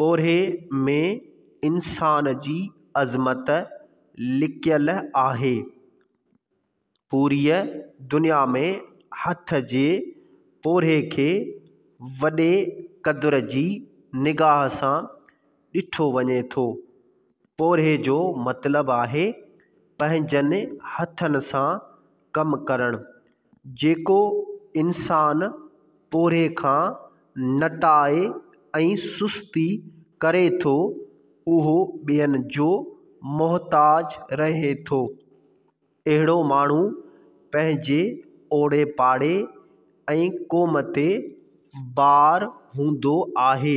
پورهيي ۾ انسان جي عظمت لڪيل آهي. پوريء دنيا ۾ هٿ جي پورهيي کي وڏي قدر جي نگاهه سان ڏٺو وڃي ٿو. پورهيي جو مطلب آهي پنهنجن هٿن سان ڪم ڪرڻ. جيڪو انسان پورهيي کان نٽائي ۽ سستي ڪري ٿو، اهو ٻين جو محتاج رهي ٿو. اهڙو ماڻهو پنهنجي اوڙي پاڙي ۽ قوم تي بار هوندو آهي.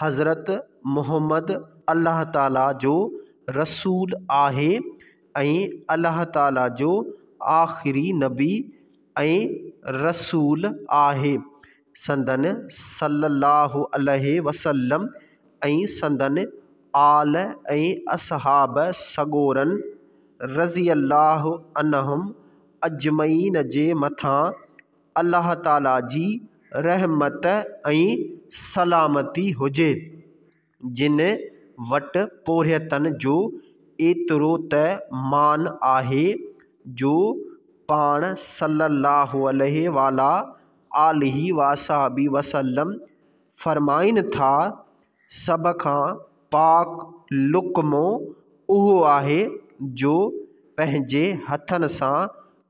حضرت محمد الله تعاليٰ جو رسول آهي ۽ الله تعاليٰ جو آخري نبي ۽ رسول آهي. سندن صلّي اللّٰه عليه وسلّم ۽ سندن آل ۽ اصحاب سڳورن رضي اللّٰه عنهم اجمعين جي مٿان الله تعالي جي رحمت ۽ سلامتي هجي، جن وٽ پورهيتن جو ايترو ته مان آهي جو پاڻ صلّي اللّٰه عليه وعلٰي آله واصحٰبه وسلّم فرمائين ٿا، سڀ کان پاڪ لقمو اهو آهي جو پنهنجي هٿن سان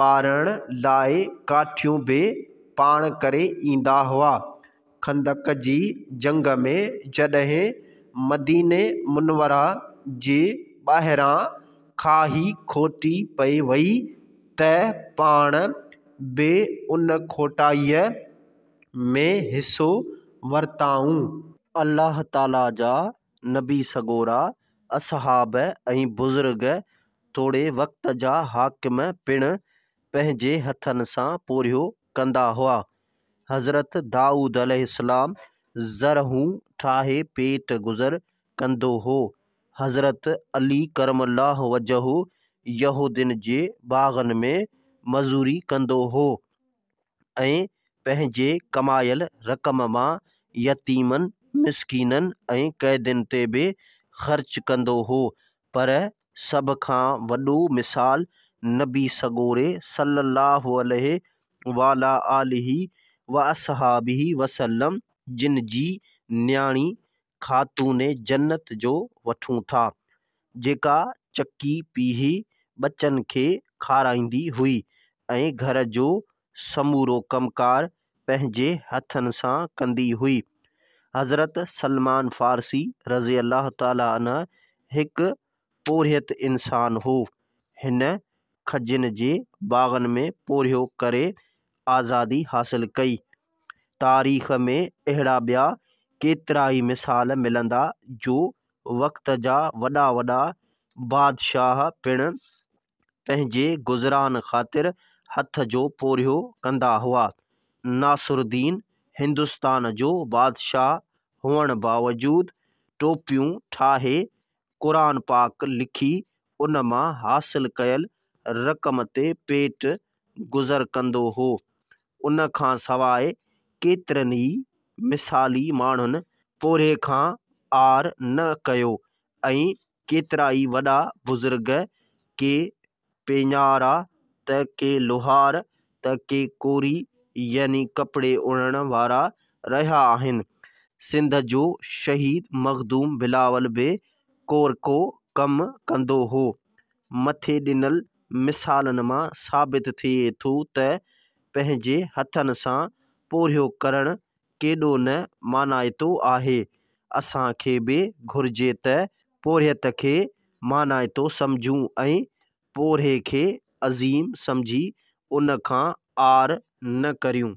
ٻارڻ لاء ڪاٺيون به پاڻ ڪري ايندا هئا. خندق جي جنگ ۾ جڏهن مديني منوره جي ٻاهران کاهي کوٽي پئي وئي ته پاڻ به ان کوٽائيء ۾ حصو ورتائون. الله تعاليٰ جا نبي سڳورا اصحاب ۽ بزرگ توڙي وقت جا حاڪم پڻ پنهنجي هٿن سان پورهيو ڪندا هئا. حضرت دائود عليه السلام زرهون ٺاهي پيٽ گذر ڪندو هو. حضرت علي ڪرم الله وجهه يهودين جي باغن ۾ مزوري ڪندو هو. ۽ پنهنجي ڪمايل رقم مان يتيمن، مسڪينن ۽ قيدين تي به خرچ ڪندو هو. پر سڀ کان وڏو مثال نبي سڳوري صلّي اللّٰه عليه وعلٰي آله واصحٰبه وسلّم جن جي نياڻي خاتون جنّت جو وٺون ٿا. جيڪا چڪي پيهي ٻچن کي کارائيندي هئي ۽ گهر جو سمورو ڪم ڪار پنهنجي هٿن سان ڪندي هئي. حضرت سلمان فارسي رضي الله تعالٰي عنه هڪ پورهيت انسان هو. هن کجين جي باغن ۾ پورهيو ڪري آزادي حاصل ڪئي. تاريخ ۾ اهڙا ٻيا ڪيترائي مثال ملندا جو وقت جا وڏا وڏا بادشاهه پڻ پنهنجي گذران خاطر هٿ جو پورهيو ڪندا هئا. ناصر الدين هندستان جو بادشاهه هئڻ باوجود ٽوپيون ٺاهي، قرآن پاڪ لکي، ان مان حاصل ڪيل رقم تي پيٽ گذر ڪندو هو. ان کان سواء ڪيترن ئي مثالي ماڻهن پورهيي کان عار نه ڪيو ۽ ڪيترا ئي وڏا بزرگ ڪي پيڃارا ته ڪي لوهار ته ڪي ڪوري يعني ڪپڙي اڻڻ وارا رهيا آهن. سنڌ جو شهيد مخدوم بلاول به ڪورڪو ڪم ڪندو هو. مٿي ڏنل مثالن مان ثابت ٿئي ٿو ته پنهنجي هٿن سان پورهيو ڪرڻ ڪيڏو نه مانائتو آهي. اسان کي به گهرجي ته پورهيت کي مانائتو سمجهون ۽ پورهئي کي عظيم سمجهي ان کان عار نه ڪريون.